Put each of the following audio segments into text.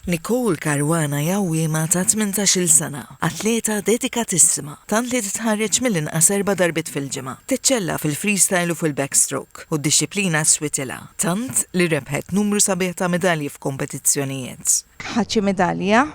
Nicole Caruana hi għawwiema ta' tmintax-il sena, atleta dedikatissima, tant li titħarreġ mill-inqas erba' darbiet fil-ġimgħa. Teċċella fil-freestyle u fil-backstroke, u d-dixxiplina switilha, tant li rebħet numru sabiħ ta' midalji f'kompetizzjonijiet. Ħadt xi midalja?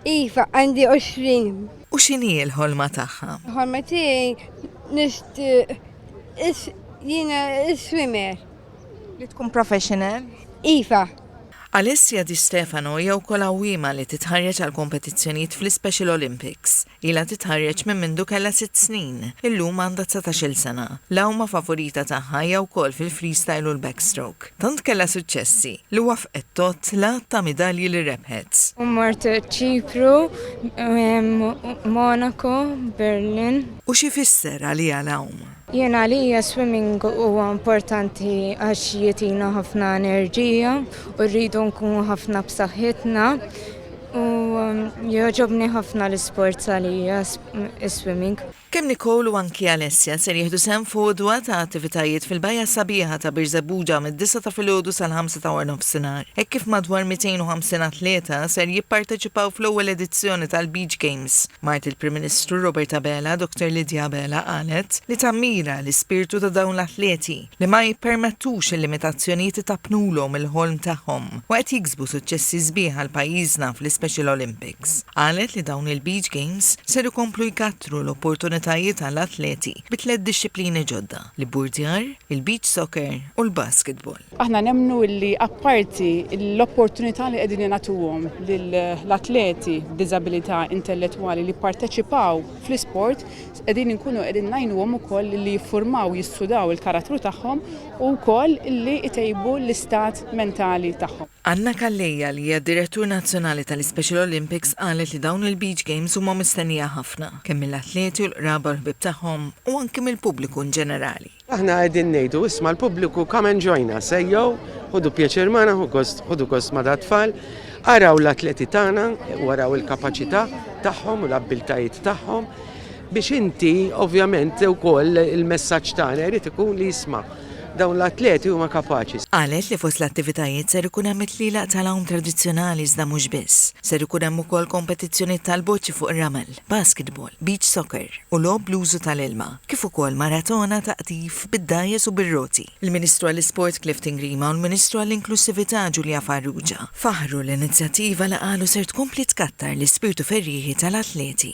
Iva, għandi għoxrin. U x'inhi l-ħolma tagħha? Il-ħolma tiegħi nixtieq jiena swimmer. Li tkun professional. Iva. Alessia Di Stefano hija wkoll għawwiema li titħarreġ għal kompetizzjonijiet fl-iSpecial Olympics. Ilha titħarreġ minn mindu kellha sitt snin. Illum għandha dsatax-il sena. L-għawma favorita tagħha hija wkoll fil-freestyle u l-backstroke. Tant kellha suċċessi, li waffqet tgħodd l-għadd ta' midalji li rebħet. Mort Ċipru, Monaco, Berlin. U x'ifisser għaliha l-għawm? Jien għalija swimming huwa importanti għax jitina ħafna enerġija u rridu nkunu ħafna b'saħħitna u um, jogħġobni ħafna l-isport għalija swimming. Kemm Nicole u anki Alessia ser jieħdu sehem f'għodwa ta' attivitajiet fil-bajja sabiħa ta' Birżebbuġa mid-disa' ta' filgħodu sal-ħamsa ta' warnofsinhar, hekk kif madwar 250 atleta ser jipparteċipaw fl-ewwel edizzjoni tal-Beach Games. Mart il-Prim Ministru Robert Abela, Dottor Lydia Abela qalet li tammira l-ispirtu ta' dawn l-atleti li ma jippermettux il-limitazzjonijiet itappnulhom il-ħolm tagħhom u qed jiksbu suċċessi sbieħ għal pajjiżna fl-iSpecial Olympics. Qalet li dawn il-Beach Games ser ikomplu jkattru l-opportunitajiet għall-atleti bi tliet dixxiplini ġodda, l-ibburdjar, il-beach soccer u l-basketball. Aħna nemmnu li apparti l-opportunità li qegħdin ingħatuhom lill-atleti b'diżabilità intellettwali li jipparteċipaw fl-isport, qegħdin inkunu qegħdin ngħinuhom ukoll li jiffurmaw, jissudaw il-karattru tagħhom u wkoll li jtejbu l-istat mentali tagħhom. Anna Calleja li hija d-Direttur Nazzjonali tal-Ispecial Olympics qalet li dawn il-Beach Games huma mistennija ħafna, kemm mill-atleti u l-qraba u l-ħbieb tagħhom u anki mill-pubbliku inġenerali. Aħna qegħdin ngħidu isma' l-pubbliku come and join us, ejjew, ħodu pjaċir magħna, ħodu gost ma' dat-tfal, araw l-atleti tagħna, waraw il-kapaċità tagħhom u l-abbiltajiet tagħhom biex inti ovvjament ukoll il-messaġġ tagħna jrid ikun li jisma' dawn l-atleti huma kapaċi. Qalet li fost l-attivitajiet ser ikun hemm it-tlila tal-għawm tradizzjonali iżda mhux biss. Ser ikun hemm ukoll kompetizzjonijiet tal-boċċi fuq ir-ramel. basketball, beach soccer u logħob bl-użu tal-ilma, kif ukoll maratona ta' qtif bid-dgħajjes u bir-roti. Il-Ministru għall-Isport Clifton Grima u l-Ministru għall-Inklussività Julia Farrugia faħħru l-inizjattiva li qalu ser tkompli tkattar l-ispirtu ferrieħi tal-atleti.